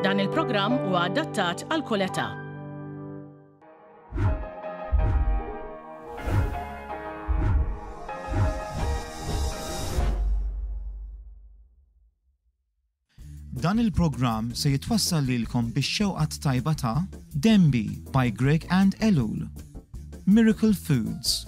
Dan il-programm huwa adattat għal kull età. Dan il-programm se jitwassal lilkom bix-xewqat tajba ta' Dembi by Greg and Elul, Miracle Foods,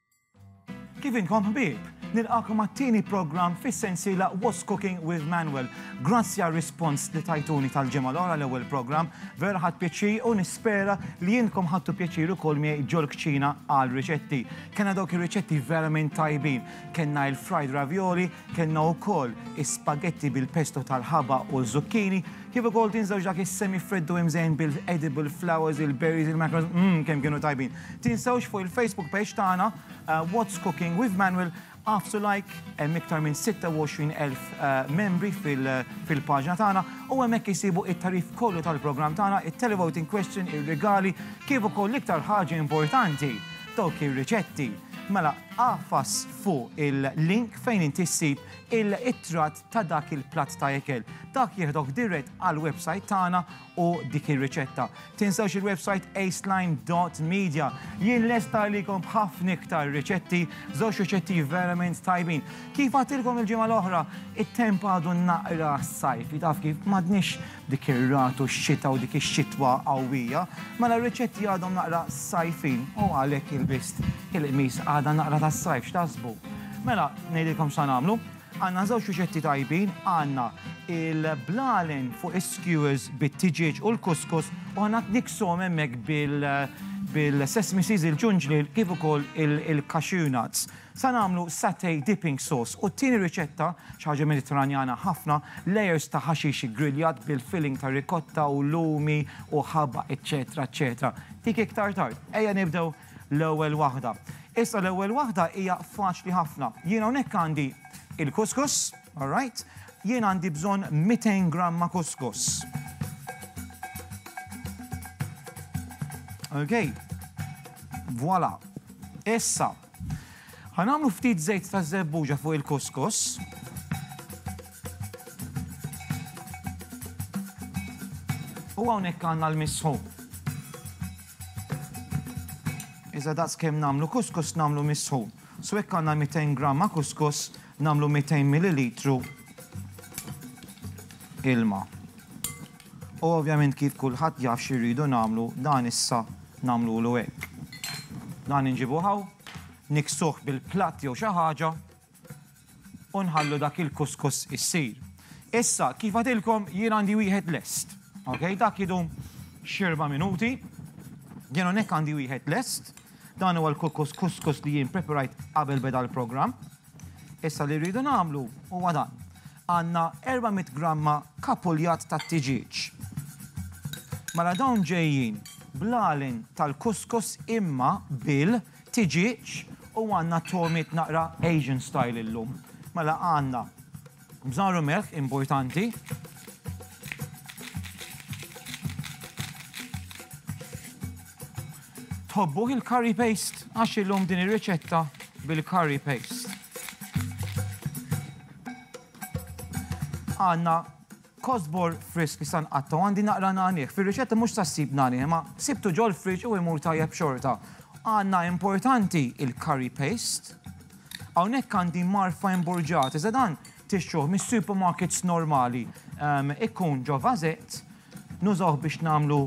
Kif inkom ħbieb? Nilqakom għat-tieni programm fis-sensiela What's Cooking with Manuel. Grazzi għar-rispons li tajtuni tal-ġimgħa l-oħra l-ewwel programm, vera ħadt pjaċir u nispera li intkom ħadtu pjaċir ukoll miegħi ġol-kċina għal riċetti. Kellna dawk ir-riċetti verament tajbin. Kellna il-fried ravioli, kellna wkoll is-spaghetti bil-pesto tal-ħaba u ż-zucchini, Kif ukoll tinżewġ dak is-semi-friddu imżejn bil-edible flowers, il-berries, il-mackerels, mm kemm kienu tajbin. Tinsewx fuq il-Facebook page tagħna What's Cooking with Manuel għafsu like, hemm iktar minn 26,000 membri fil-paġna tagħna u hemmhekk isibu it-tagħrif kollu tal-programm tagħna, it-televoting question, ir-rigali, kif ukoll l-iktar ħaġa importanti, dawk ir-riċetti. Mela, agħfas fuq il-link fejn inti ssib it-tratt ta' dak il-platt ta' ikel. Dak jieħdok dirett għall-websajt tagħna u dik ir-riċetta. Tinsewx il-websajt aceline dot media. Jien lest għalikom b'ħafna iktar riċetti, żewġ riċetti verament tajbin. Kif għadtilkom il-ġimgħa l-oħra, it-temp għadu naqra sajfi, taf kif, m'għadniex b'dik ir-ragħad u x-xita u dik ix-xitwa qawwija, mela r-riċetti għadhom naqra sajfin u għalhekk ilbist il-qmis għadha naqra tas-sajf, x'taħsbu? Mela, ngħidilkom x'sa nagħmlu, Għandna żewġ riċetti tajbin, għandna il-blalen fuq is-skewers bit-tiġieġ u l-kuskus u għandna nikshom hemmhekk bil-sesame seeds, il-ġunġliel kif ukoll il-cashew nuts. Sa nagħmlu satay dipping sauce u t-tieni riċetta, xi ħaġa Mediterranjana ħafna, layers ta' ħaxix iggriljat bil-filling ta' ricotta u lumi u ħabaq eċċetera eċċetera. Dik iktar tard. Ejja nibdew L-ewwel waħda. Issa l-ewwel waħda hija faċli ħafna. Jien hawnhekk għandi il-kuskus, all right? Jien għandi bżonn 200 gramma kuskus. Okay. Voilà. Issa, ħanamlu ftit żejt ta' żebbuġa fuq il-kuskus. U hawnhekk għandna l-misħu. Iżda daqs kemm nagħmlu kuskus nagħmlu misħun. So jekk għandna 200 gramma kuskus nagħmlu 200 millilitru ilma. U ovvjament kif kulħadd jaf x'irridu nagħmlu dan issa nagħmlulu hekk. Dan inġibu hawn, niksuh bil-platt jew xi ħaġa. U nħallu dak il-kuskus issir. Issa, kif għatilkom, jien għandi wieħed lest. Ok, dak jidum xirba minuti. Jien hawnhekk għandi wieħed lest. Dan huwa l-kukus kuskus li jien preparajt qabel beda l-programm. Issa li rridu nagħmlu huwa dan. Għandna 400 gramma kapuljat ta' tiġieġ. Mela dawn ġejjin blalin tal-kuskus imma bil Tiġieġ u għandna togħmiet naqra Asian style illum. Mela għandna bżar u melħ, importanti. Tħobbuh il-curry paste? Għax illum din ir-riċetta bil-curry paste. Għandna Kosbor frisk issa nqatta' u għandi naqra nagħnih. Fir-riċetta mhux sa ssib nagħnih imma sibtu ġol-friġġ u imur tajjeb xorta. Għandna importanti il-curry paste. Hawnhekk għandi marfa imburġat iżda dan tixtruh mis-supermarkets normali. Ikun ġo vasett, nużawh biex nagħmlu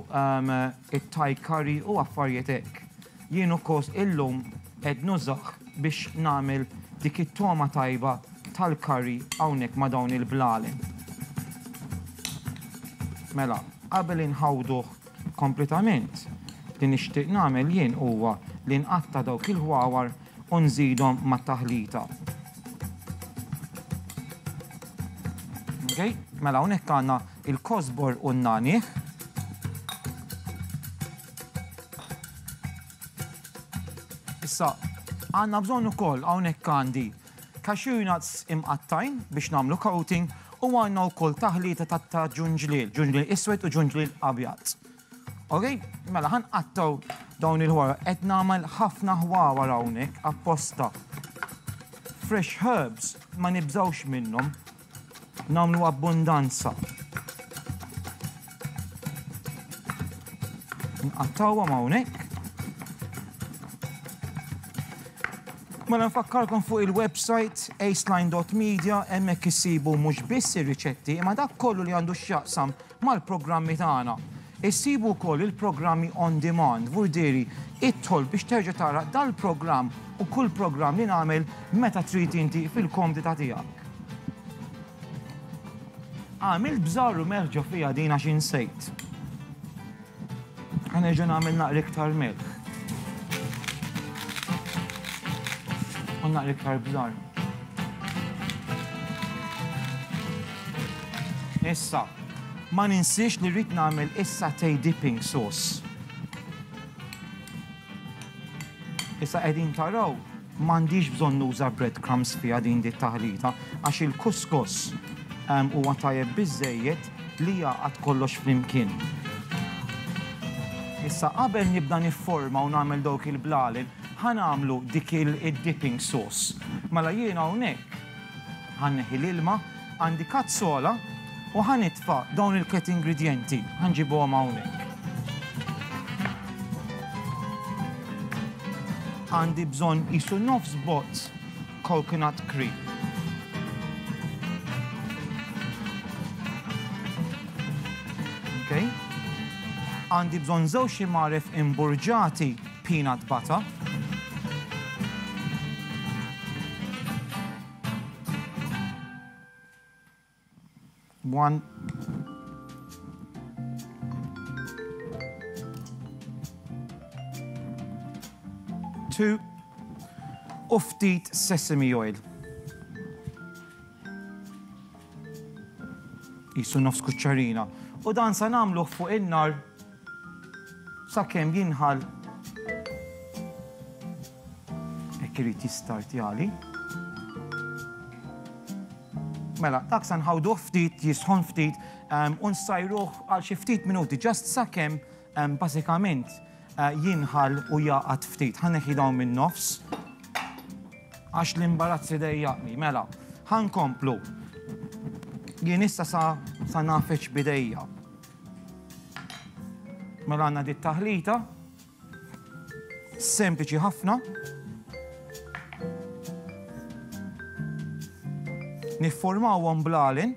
it-Thai curry u affarijiet hekk. Jien u Koos illum qed nużah biex nagħmel dik it-togħma tajba tal-curry hawnhekk ma' dawn il-blalen. Mela, qabel inħawduh kompletament, li nixtieq nagħmel jien huwa li nqatta' dawk il-ħwawar u nżidhom mat-taħlita. Okej, mela hawnhekk għandna l-kosbor u n-nagħniegħ. Issa, għandna bżonn ukoll hawnhekk għandi cashew nuts imqattgħin biex nagħmlu coating u għandna wkoll taħlita ta' ġunġliel, ġunġliel iswed u ġunġliel abjad. Ok, mela ħan qattaw dawn il-ħwara, qed nagħmel ħafna ħwawar hawnhekk apposta. Fresh herbs ma nibżawx minnhom, Nagħmlu abbundanza. Nqattawhom hawnhekk. Mela nfakkarkom fuq il-website aceline.media hemmhekk issibu mhux biss ir-riċetti imma dak kollu li għandu x'jaqsam Mal-programmi tagħna issib ukoll il-programmi on demand, vurdiri idħol biex terġa' tara dal-programm u kull programm li nagħmel meta trid inti fil-komdità tiegħek. Għamilt bżarr u melħ ġo fiha din għax insejt. Ħanerġa' nagħmel naqra iktar milħ. U naqra iktar bżar. Issa, ma ninsiex li rrid nagħmel is-satay dipping sauce. Issa qegħdin taraw m'għandix bżonn nuża breadcrumbs fiha din di taħlita għax il-kuskos ehm, huwa tajjeb biżejjed li jaqgħad kollox flimkien. Issa qabel nibda nifforma u nagħmel dawk il-blalen, ħa nagħmlu dik il-dipping sauce. Mela jiena hawnhekk ħanneħi l-ilma Għandi kazzola u ħa nitfa' dawn il-tliet ingredjenti. Ħa nġibuhom hawnhekk. Għandi bżonn qisu nofs bozz coconut cream. Okay. Għandi bżonn żewġ imaref imburġati peanut butter. One. Two. U ftit sesame oil. Jisu nofs kuċċarina. U dan sa namluħ fuq in-nar Sakemm jinħall hekk irid jistartjali. Mela, dak se nħawduh ftit, jisħon ftit, u nsajruh għal xi ftit minuti, just sakemm bażikament jinħall u jgħaqad ftit. Ħa neħi dawn min-nofs għax l-imbarazz idejjaqni. Mela, ħa nkomplu. Jien issa sa nagħfeġ b'idejja. Mela għandna di taħlita sempliċi ħafna. Nifformawhom blalen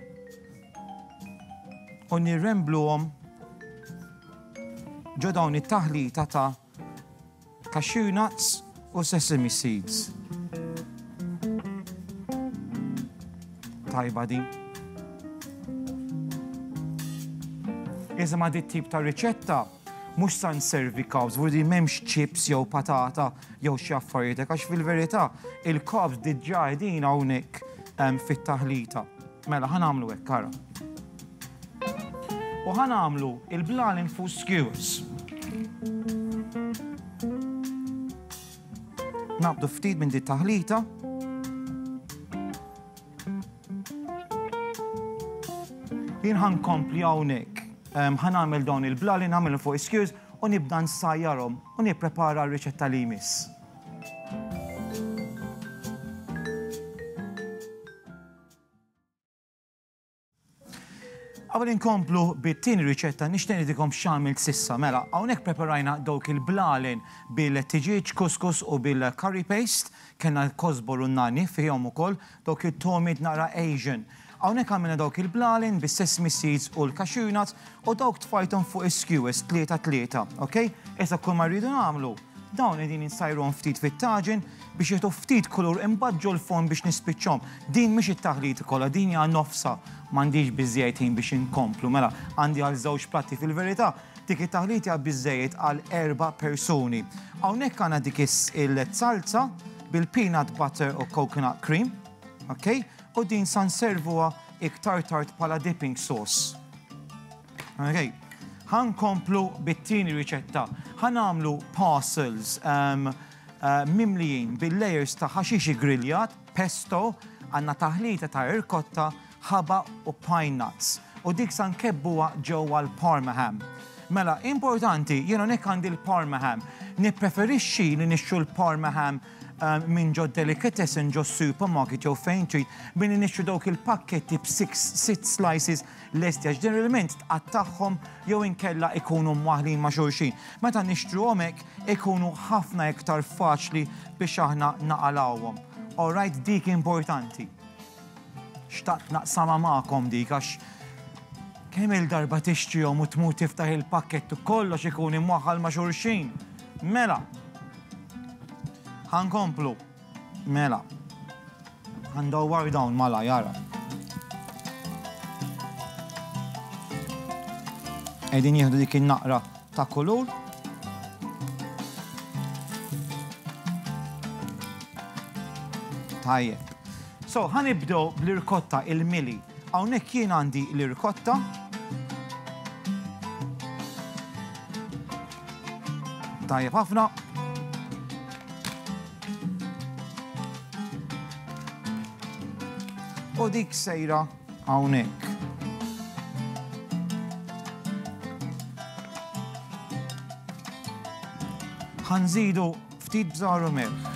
u nirrembluhom ġo dawn it-taħlita ta' cashew nuts u sesame seeds. Tajba din. Iżda ma' dit tip ta' riċetta mhux sa nservi kawż, vudi m'hemmx chips jew patata jew xi affarijiet għax fil-verità il-kawż diġà qegħdin hawnhekk fit-taħlita. Mela ħa nagħmlu hekk ara. U ħa nagħmlu il-blan infuż skewers. Naqbdu ftit minn dit taħlita. Jien ħan kompli hawnhekk. Ehm, ħan nagħmel dawn il-bla li nagħmel fuq iskjuż u nibda nsajjarhom u nipprepara r-riċetta li jmiss. Qabel inkomplu bit-tieni riċetta nixtieq ngħidilkom x'għamilt s'issa. Mela, hawnhekk preparajna dawk il-blalen bil-tiġieġ, kuskus u bil-curry paste. Kellna l-kosbor u n-nagħniegħ fihom ukoll, dawk it-togħmiet naqra Asian. Hawnhekk għamilna dawk il-blalen bis-sesame seeds u l-cashew nuts u dawk tfajthom fuq is-skewers tlieta tlieta, ok? Issa kull ma rridu nagħmlu, Dawn qegħdin insajrhom ftit fit-taġen biex jagħtu ftit kulur imbagħad ġol-forn biex nispiċċhom. Din mhix it-taħlita kollha, din hija nofsha. M'għandix biżżejjed ħin biex inkomplu. Mela, għandi għal żewġ platti fil-verità. Dik it-taħlita hija biżżejjed għal erba' persuni. Hawnhekk għandna dik il-salza bil-peanut butter u coconut cream. Ok? U din sa nservuha iktar tard bħala dipping sauce. Okay. Ħan komplu bit-tieni riċetta. Ħan għamlu parcels um, uh, mimlijin bil-layers ta' ħaxixi griljat, pesto, għanna taħlita ta' irkotta, ħaba u pine nuts. U dik san kebbuwa ġewwa l-parma ham. Mela, importanti, jena nek għandi l-parma ham. Nippreferixxi li nixxu l-parma ham um, minn ġo delicatessen ġo supermarket jew fejn trid billi nixxu dawk il-pakketti b'6 slices lesti għax din l-ilment tqattagħhom jew inkella ikunu mwaħlin ma' xulxin. Meta nixtruhom hekk ikunu ħafna iktar faċli biex aħna naqalgħuhom. Alright dik importanti. Xtaqt naqsama magħkom dik għax kemm il-darba tixtrihom u tmur tiftaħ il-pakket u kollox ikun imwaħħal ma' xulxin. Mela, ħankomplu. Mela. Ħa ndawwar dawn malajr ara. Qegħdin jieħdu dik in-naqra ta' kulur. Tajjeb. So, ħa nibdew bl-irkotta il-mili. Hawnhekk jien għandi l-irkotta. Tajjeb ħafna. U dik sejra hawnhekk. Ħanżidu ftit bżaru milħ.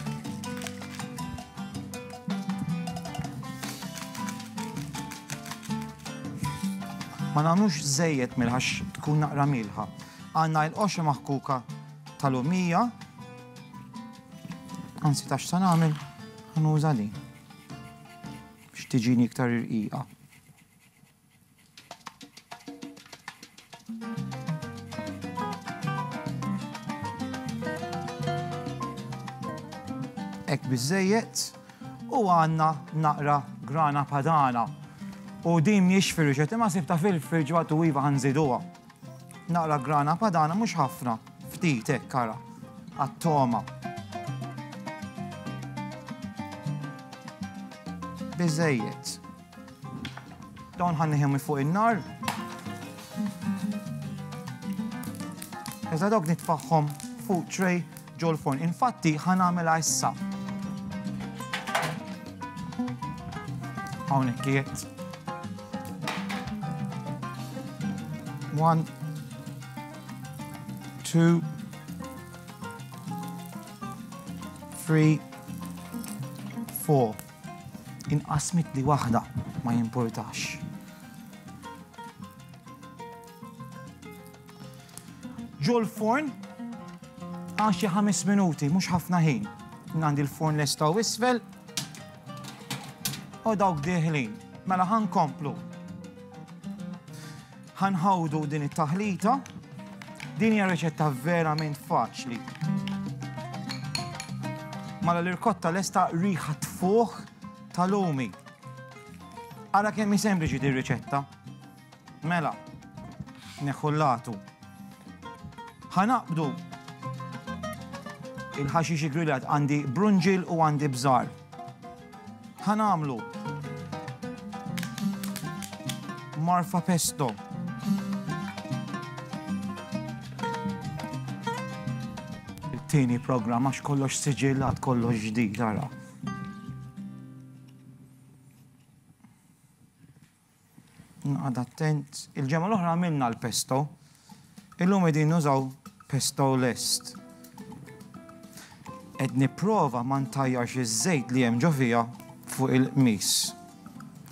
ma nagħmlux żejjed milħax tkun naqra milħa. Għandna il-qoxra maħkuka tal-lumija. Anzi, tax sa nagħmel, nuża din. Biex tiġini iktar irqija. Ek bizzejiet u għanna naqra grana padana. U din miex firġet, imma sibta fil-firġu għatu iva għanżiduwa. Naqra grana padana mhux ħafna, ftit hekk ara, għat-togħma. Biżejjed. Dawn ħanniħem fuq in-nar. Iżda dawk nitfaħħom fuq tray ġol forn. Infatti ħanamela issa. Hawnhekk kiet. One, two, three, four. Inqasmit li waħda ma jimportax. Ġol forn għaxi ħames minuti, mhux ħafna ħin. Nandi l-forn lesta u isfel, U dawk dieħlin. Mela ħa nkomplu. Ħa nħawdu din it-taħlita. Din hija riċetta verament faċli. Mala l-irkotta lesta riħa tfuħ tal-lumi. Ara kemm sempliċi dir riċetta. Mela, neħħu l-latu. Ħanaqbdu il-ħaxixi grillat għandi brunġil u għandi bżar. Ħanamlu marfa pesto. Il-tini program għax kollox siġillat, kollox ġdid, għara. Noqgħod attent. Il-ġemgħa l-oħra għamilna l-pesto. Illum qegħdin nużaw pesto lest. Qed nipprova ma ntajjarx iż-żejt li hemm ġo fiha fuq il-qmis.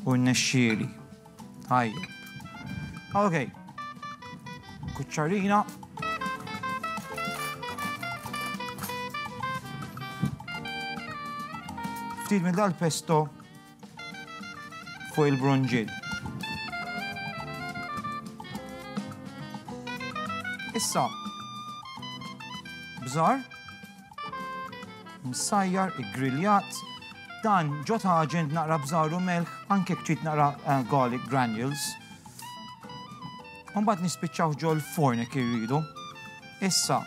U nnexxieli. Tajjeb. Ok. Kuċċarina. Ftit minn dal-pesto fuq il-brunġiet. Issa, bżar, msajjar, griljat, dan ġo taġen naqra bżaru melħ, anke kċit naqra eh, garlic granules. Umbat nispiċċaw ġol forn jek irridu. Issa,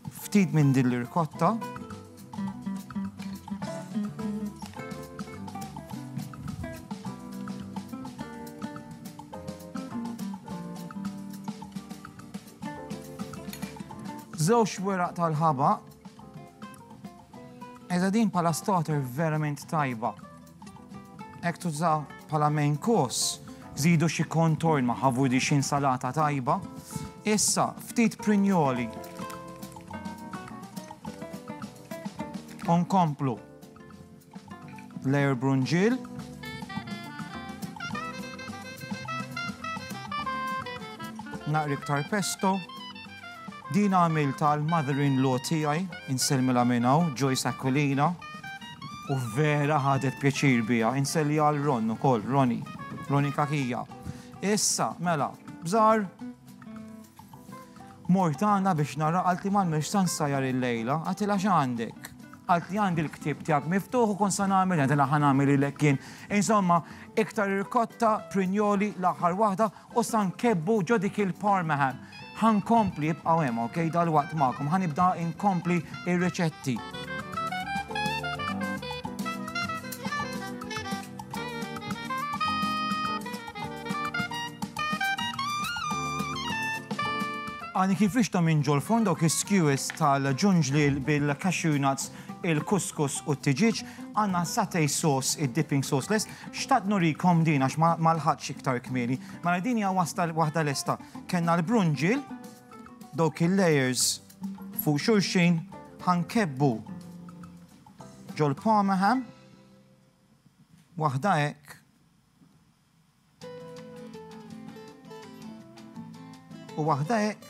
Ftit minn din l-irkotta. Żewġ weraq tal-ħabaq Iżda din bħala starter verament tajba. Hekk tuża bħala main course, żidu xi contorn ma' ħavu di xi insalata tajba. Issa, ftit prinjoli. Onkomplu layer brunġil. Naqri iktar pesto. Din għamiltha għal mother-in-law tiegħi, insellmilha minn hawn, Joyce Aquilina, u vera ħadet pjaċir biha. Insellja għal Ron ukoll, Ronnie, Ronnie Cachia. Issa, mela, bżar, mort għandha biex nara qalt li m'għandniex sa nsajjar il-lejla, għatilha x'għandek? Qalt li għandi l-ktieb tiegħek miftuħ u kont sa nagħmel għatilha ħa nagħmel lilek jien. Insomma, iktar irkotta, prinjoli, l-aħħar waħda, U sa nkebbu ġo dik il-parmaham. Ħa nkompli, ibqgħu hemm, okej, dalwaqt magħkom. Ħa nibda inkompli ir-riċetti. Għani kif rixta minn ġol fond dawk is-skewers tal-ġunġlil bil-cashew nuts, il-kuskus u t-tiġiġ, għanna satay sauce, id-dipping sauce less, Xtaqt nurikom din għax ma ma lħaqtx iktar kmieni. Mela din hija wasla waħda lesta. Kellna l-brunġiel, dawk il-layers fuq xulxin, ħa nkebbu ġol-parma ham, waħda hekk, u waħda hekk,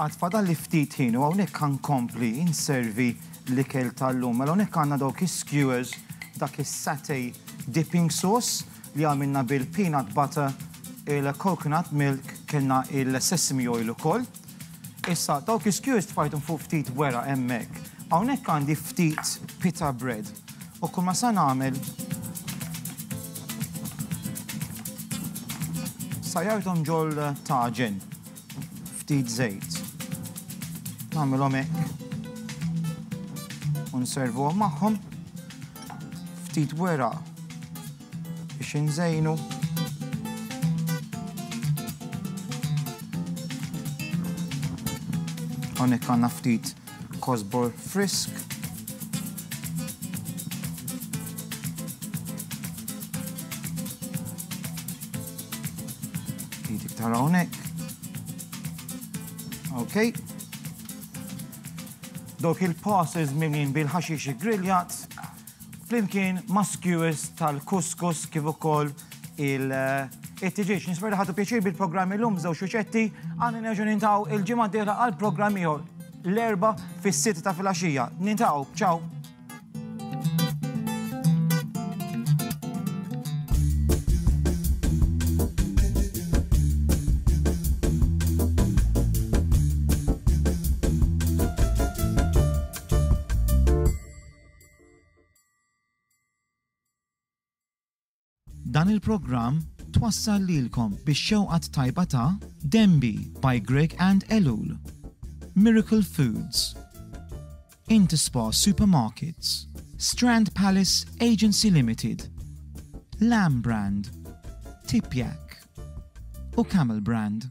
Għad fadalli ftit ħin u hawnhekk ħa nkompli nservi l-ikel tal-lum. Mela hawnhekk għandna dawk is-skewers, dak is-satay dipping sauce li għamilna bil-peanut butter, il-coconut milk, kellna il-sesame oil ukoll. Issa dawk is-skewers tfajthom fuq ftit weraq hemmhekk. Hawnhekk għandi ftit pita bread. U kull ma sa nagħmel sa jardhom ġol taġen ftit żejt. Nagħmilhom hekk. U nservuhom magħhom ftit wera biex inżejnu. Hawnhekk għandna ftit kosbor frisk. Ftit iktar hawnhekk. Okay. Dawk il-passes mimlin bil-ħaxix griljat Flimkien ma' skewers tal-kuskus kif ukoll il- it-tiġieġ. Nisper li ħadu pjaċir bil-programm illum żewġ xuċetti għandna nerġgħu nintaw il-ġimgħa d-dieħla għal programm ieħor l-erba' fis-sitt ta' filgħaxija. Nintaw, ċaw! Dan il-programm twassal lilkom bix-xewqa t-tajba ta' Denby by Greg and Elul, Miracle Foods, Interspar Supermarkets, Strand Palace Agency Limited, Lamb Brand, Tipjak u Camel Brand.